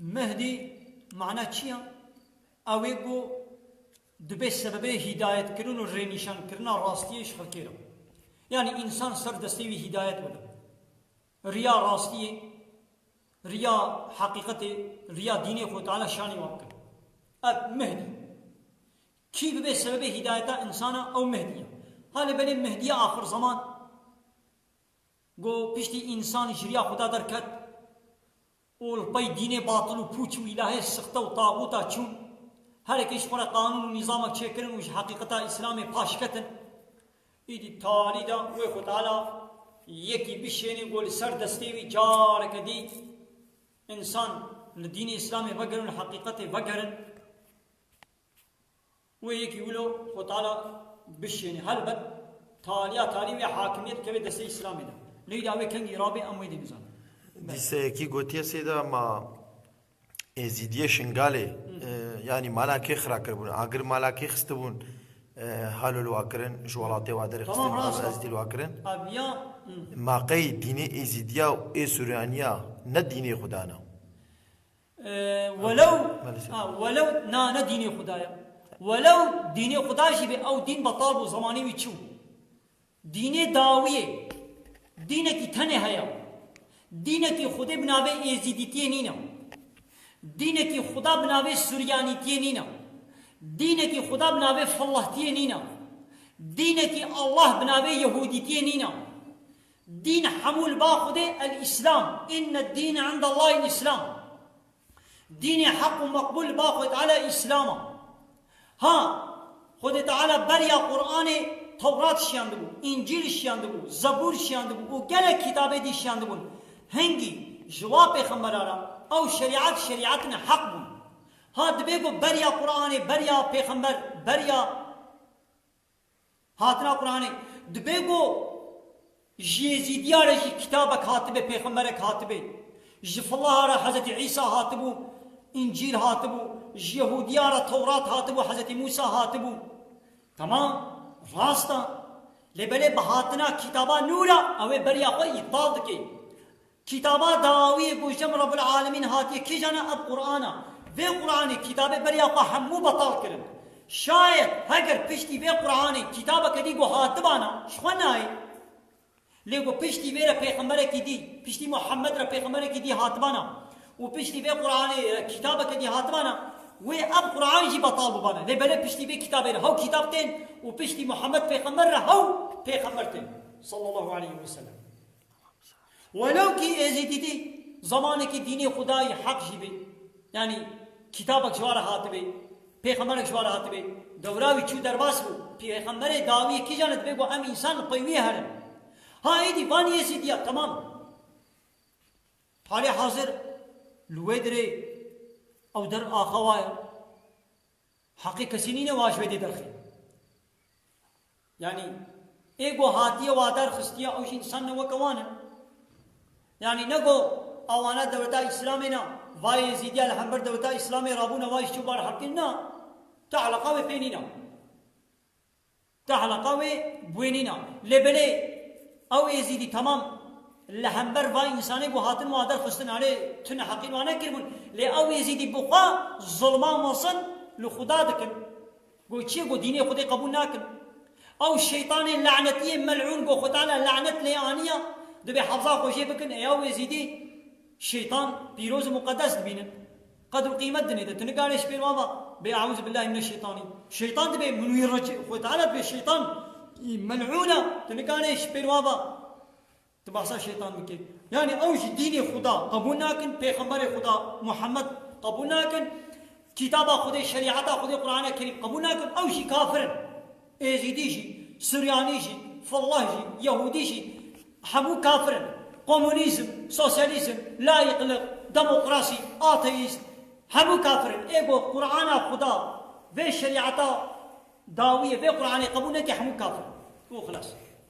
Mehdî mana çi ya? Ew ê ku dibe sebebê hîdayetkirin û rênîşankirina rastiyê ji xelkê re. Yanî însan ser destê wî hîdayet bide. Riya rastiyê, riya heqîqetê, riya dînê xwe Teala şanê wan bike. Ev Mehdî ye. Kî bibe sebebê hîdayeta însana ew Mehdî ye. Ha lê belê Mehdîya axirzeman? Go piştî însan ji riya Xweda derket û li pey dînê batil û pûç û îlahê sixte û tagûta çûn, herikê ji xwe re qanûn û nîzamek çêkirin û ji heqîqeta Îslamê paş ketin, îdî talî da wê ku Teala yekî bişênê ku li ser destê wî careke dî însan li dînê Îslamê vegerin û li heqîqetê vegerin. Wê yekî wilo xwe tala bişêne. Helbet taliya talî wê hakimiyet bikeve destê Îslamê de. Leyla wê kengî rabê em wê dê bizanin. Dîseyekî gotiye Sêda ma Êzîdiyê Şingalê yanî mala kê xira kiribûn? Agir mala kê xistibûn hal û li wa kirin? Ji welatê wa derê xistibûn hal û ezîtî li wa kirin? Ma qey dînê Êzîdiya û Êsuraniya ne dînê xwe dana? Welew welew na ne dînê Xuda ye. Welew dînê Xuda jî bê ew dîn betal bû zemanê wî çi bû. Dînê dawiyê dînekî tenê heye. Dînekî Xudê bi navê Êzîdîtiyê nîne. Dînekî Xuda bi navê Suryanîtiyê nîne. Dînekî Xuda bi navê Fillehtiyê nîne. Dînekî Allah bi navê Yehûdîtiyê nîne. Dîn hemû li ba Xwedê El Îslam, Inne dîn indellahî Îslam, Dînê heq û meqbûl li ba Xwedê Teala Îslam a. Ha, Xwedê Teala beriya Quranê Tewrat şiyandibû, Încîl şiyandibû, Zebûr şiyandibû û gelek kitabê dî şiyandibûn. Hingî, ji wan pêxemberan re, ew şerîat şerîatên heq bûn. Ha dibê ku beriya Quranê, beriya pêxember, beriya. Hatina Quranê, dibe ku ji Yêzîdiya re jî kitabek hatibe, pêxemberek hatibe. Ji Filaha re Hezretî Îsa hatibû, Încîl hatibû. Ji Yehudiyan re Tewrat hatibû, Hezretî Mûsa hatibû. Temam, rast e. Lê belê bi hatina kitaba nû re ew ê beriya xwe îptal dike. Kitaba dawî bo jin Rebul Alemîn hatiye kîjan e? Ev Quran e. Vê Quranê kitabê beriya xwe hemû betal kirin. Şayet heger piştî vê Quranê kitabeke dî ku hatibana ji xwe nayê. Lê ku piştî vê re pêxemberekî dî, piştî Muhammed re pêxemberekî dî hatibana û piştî vê Quranê re kitabeke dî hatibana, wê ev Quran jî betal bibana. Lê belê piştî vê kitabê re hew kitab tên û piştî Muhammed pêxember re hew pêxember tên, Sallallahu Aleyhi Weselem. Welo kî Êzîdîdî zamanekî dînê Xwedayî heq jî bê, yanî kîtabek ji ware hatibê, pêxemberek ji ware hatibê, dewra wî çû derbas bû, pêxemberê dawî kîjan li dibê ku em însan li pey wî herin. Ha êdî van Êzîdîya temam e. Halê hazir li wê dirê ew dir axawa ye. Heqê kesî nîne wan ji wê dê derxî. Yanî ê ku hatiye wa derxistiye ew jî însan ne weke wan e. Yanî ne ku awana dewleta Îslamê ne, va Yêzîdiya li hember dewleta Îslamê rabûne va ji çi bar heqîn na. Ti eleqa wê pê nîne. Te helaqa wê bwênîna. Lê belê ew êzîdî temam li hember va însanê bû hatin wan derxistin erê tu neheqî wan nekiribûn lê ew êzîdî bi xwe zilma mezin li xuda dikin go çi go dînê xwedê qebûl nakin ew şeytanê lenetiyê mel'ûn go xwe teala lenet lê aniya dibê hefza xwe jê bikin ê ew êzîdî şeytan pîroz û muqedes dibînin. Qedr û qîmet dinê de. Tu nikare ji pêr wan va bê Eûzu billahî mineşşeytanî. Şeytan dibe min wî re çi? Xwê Teala dibe şeytan î mel'ûn e. Tu nikare ji pêr wan va tu behsa şeytan bikî. Yanî ew jî dînê Xweda qebûl nakin, pêxemberê Xweda Muhammed qebûl nakin, kîtaba Xwedê, şerîata Xwedê Qur'ane Kerîm qebûl nakin. Ew jî kafir in. Êzîdî jî, Suryanî jî, Felleh jî, Yehûdî jî hemû kafir in. Komûnîzm, sosyalîzm, layîqlik, demokrasî, ateîst hemû kafir in. Ê got Qur'ana Xuda vê şerîeta dawî ye, vê Qur'anê qebûl neke hemû kafir in û xilas.